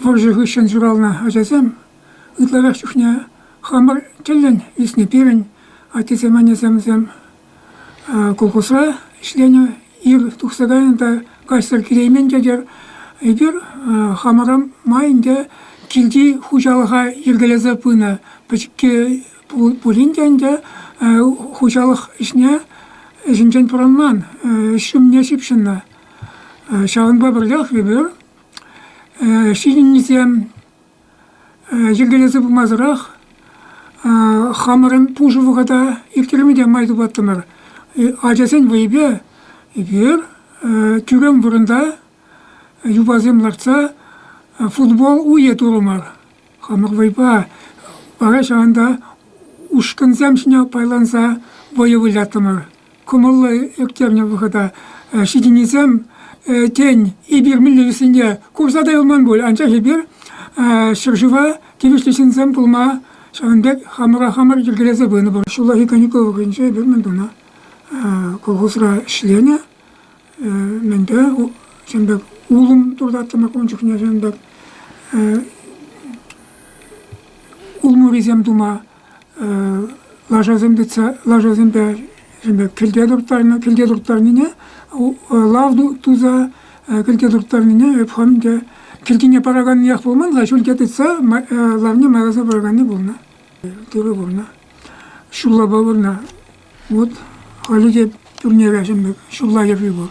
Вӑрҫӑ хыҫҫӑн ҫуралнӑ ачасем ытларах чухне хамӑр тӗллӗн ӳснӗ. Пирӗн аттесем, аннесемсем колхозра ӗҫленӗ. Ир тухса кайнӑ та каҫсӑр килеймен тетер. Эпир хамӑра май ӗнтӗ килти хуҫалӑха йӗркелесе пынӑ. Пӗчӗкки пулин те ӗнтӗ хуҫалӑх ӗҫне ӗҫӗнчен пӑрӑнман, ӗҫ ҫумне ҫыпҫӑннӑ. Ҫавӑнпа пӗрлех эпир ҫитӗннисем йӗркелесе пымасӑрах хамӑрӑн пушӑ вӑхӑта ирттерме те май тупаттӑмӑр. Ачасен вӑйӗпе эпир тӳрем вырӑнта юпасем лартса футбол уйӗ турӑмӑр. Хӑнӑк вӑйпа вара ҫавӑнта ушкӑнсем ҫине пайланса вӑйӑ выляттӑмӑр. Кӑмӑллӑ ирттернӗ вӑхӑта ҫитӗннисем, тен, эпир мӗнле вӗсенче курса та юлман пуль, анчах эпир ҫӗршыва тивӗҫлӗ ҫынсем пулма ҫавӑн пек хамӑра хамӑр йӗркелесе пынӑ пур. Ҫуллахи каникул вӑхӑтӗнче эпир мӗн тунӑ? Колхозра ӗҫленӗ. мӗнпе ҫын пек улӑм туртаттӑмӑр ун чухне ҫын пек улмурисем тума лашасем тытса лашасемпе ҫын пек кӗлте турттарнӑ кӗлте турттарнине лав туса кӗлте турттарнине эп хам те кӗлтине параканниех пулман-ха ҫӳлте тытса лавне макӑрса параканни пулнӑ тырӑ пурнӑ ҫуллапа пурнӑ Вот халӗ те турнира ҫӗнӗ ҫулла йӗрри пур.